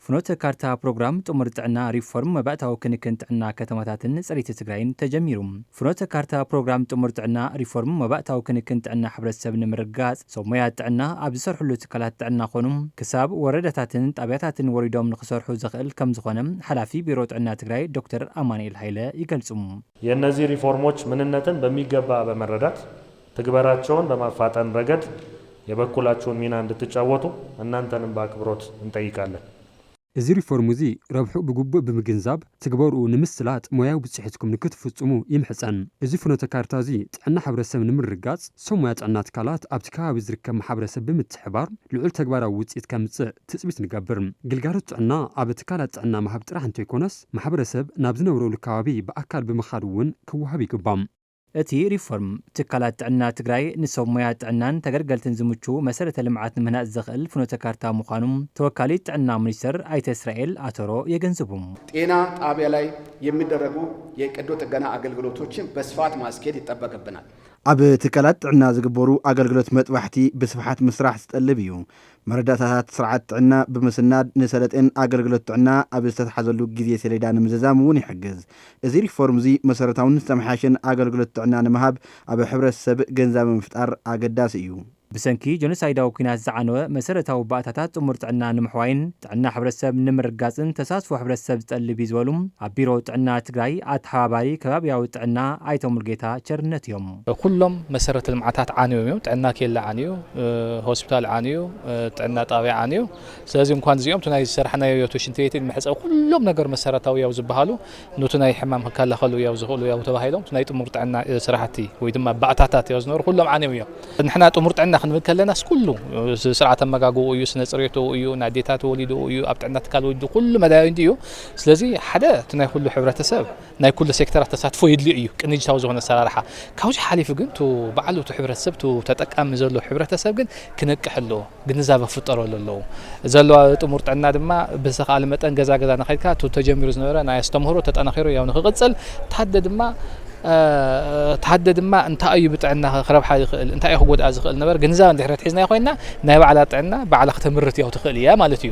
ፍኖተ ካርታ ፕሮግራም ጥሙር ጥዕና ሪፎርም መባእታዊ ክንክን ጥዕና ከተማታትን ፅሬት ትግራይን ተጀሚሩ ፍኖተ ካርታ ፕሮግራም ጥሙር ጥዕና ሪፎርም መባእታዊ ክንክን ጥዕና ሕብረተሰብ ንምርግጋፅ ሰብ ሞያ ጥዕና ኣብ ዝሰርሕሉ ትካላት ጥዕና ኮኑ ክሳብ ወረዳታትን ጣብያታትን ወሪዶም ንክሰርሑ ዘኽእል ከምዝኾነ ሓላፊ ቢሮ ጥዕና ትግራይ ዶክተር ኣማኒኤል ሃይለ ይገልፁ። የእነዚህ ሪፎርሞች ምንነትን በሚገባ በመረዳት ትግበራቸውን በማፋጠን ረገድ የበኩላችሁን ሚና እንድትጫወቱ እናንተንም በኣክብሮት እንጠይቃለን። እዚ ሪፎርም እዚ ረብሕኡ ብግቡእ ብምግንዛብ ትግበርኡ ንምስላጥ ሞያዊ ብፅሒትኩም ንክትፍፁሙ ይምሕፀን። እዚ ፍኖተ ካርታ እዚ ጥዕና ሕብረተሰብ ንምርግጋፅ ሰብ ሞያ ጥዕና ትካላት ኣብቲ ከባቢ ዝርከብ ማሕበረሰብ ብምትሕብባር ልዑል ተግባራዊ ውፅኢት ከምፅእ ትፅቢት ንገብር። ግልጋሎት ጥዕና ኣብ ትካላት ጥዕና ምሃብ ጥራሕ እንተይኮነስ ማሕበረሰብ ናብ ዝነብረሉ ከባቢ ብኣካል ብምኻድ እውን ክወሃብ ይግባእ። እቲ ሪፎርም፣ ትካላት ጥዕና ትግራይ ንሰብ ሞያ ጥዕናን ተገልገልትን ዝምቹ መሰረተ ልምዓት ንምህናፅ ዘኽእል ፍኖተ ካርታ ምዃኑ ተወካሊት ጥዕና ሚኒስቴር ኣይተ እስራኤል ኣተሮ የገንዝቡ። ጤና ጣቢያ ላይ የሚደረጉ የቀዶ ጥገና ኣገልግሎቶችን በስፋት ማስኬድ ይጠበቅብናል። ኣብ ትካላት ጥዕና ዝግበሩ ኣገልግሎት መጥባሕቲ ብስፍሓት ምስራሕ ዝጠልብ እዩ። መረዳእታታት ስርዓት ጥዕና ብምስናድ ንሰለጤን ኣገልግሎት ጥዕና ኣብ ዝተትሓዘሉ ግዜ ሰሌዳ ንምዝዛም እውን ይሕግዝ። እዚ ሪፎርም እዚ መሰረታውን ዝተመሓየሸን ኣገልግሎት ጥዕና ንምሃብ ኣብ ሕብረተሰብ ገንዛበ ምፍጣር ኣገዳሲ እዩ። ብሰንኪ ጆኖሳይዳዊ ኩናት ዝዓነወ መሰረታዊ ባእታታት ጥሙር ጥዕና ንምሕዋይን፣ ጥዕና ሕብረተሰብ ንምርግጋፅን ተሳትፎ ሕብረተሰብ ዝጠልብ እዩ ዝበሉ ኣብ ቢሮ ጥዕና ትግራይ ኣተሓባባሪ ከባቢያዊ ጥዕና ኣይተ ሙሉጌታ ቸርነት እዮም። ኩሎም መሰረተ ልምዓታት ዓንዮም እዮም። ጥዕና ኬላ ዓንዩ፣ ሆስፒታል ዓንዩ፣ ጥዕና ጣብያ ዓንዩ። ስለዚ እንኳን እዚኦም እቲ ናይ ዝሰራሕናዮ እቲ ሽንት ቤትን መሕፀቢ ኩሎም ነገር መሰረታዊ ያው ዝበሃሉ ኑቲ ናይ ሕማም ክከላኸሉ ያው ዝኽእሉ ያው ተባሂሎም ናይ ጥሙር ጥዕና ስራሕቲ ወይ ድማ ባእታታት ያው ዝነበሩ ኩሎም ዓንዮም እዮም። ንሕና ጥሙር ጥዕና ክንብል ከለናስ ኩሉ ስርዓት ኣመጋግብኡ እዩ፣ ስነ ፅሬትኡ እዩ፣ ናይ ኣዴታት ወሊድኡ እዩ፣ ኣብ ጥዕና ትካል ወሊዱ ኩሉ መዳዩ እንዲ እዩ። ስለዚ ሓደ እቲ ናይ ኩሉ ሕብረተሰብ ናይ ኩሉ ሴክተራት ተሳትፎ የድልዮ እዩ፣ ቅንጅታዊ ዝኾነ ኣሰራርሓ። ካብዚ ሓሊፉ ግን እቱ ባዕሉ እቱ ሕብረተሰብ እቱ ተጠቃሚ ዘሎ ሕብረተሰብ ግን ክነቅሕ ኣለዎ። ግንዛበ ክፍጠረሉ ኣለዎ። ዘለዋ ጥሙር ጥዕና ድማ ብዝተኻእለ መጠን ገዛ ገዛ እናኸድካ እቲ ተጀሚሩ ዝነበረ ናይ ኣስተምህሮ ተጠናኺሩ ያው ንክቕፅል ተሃደ ድማ ተሃደ ድማ እንታይ እዩ ብጥዕና ክረብሓ ይኽእል እንታይ እዩ ክጎድኣ ዝኽእል ነበር ግንዛበ እንድሕር ኣትሒዝናዮ ኮይና ናይ ባዕላ ጥዕና ባዕላ ክተምርት ያው ትኽእል እያ ማለት እዩ።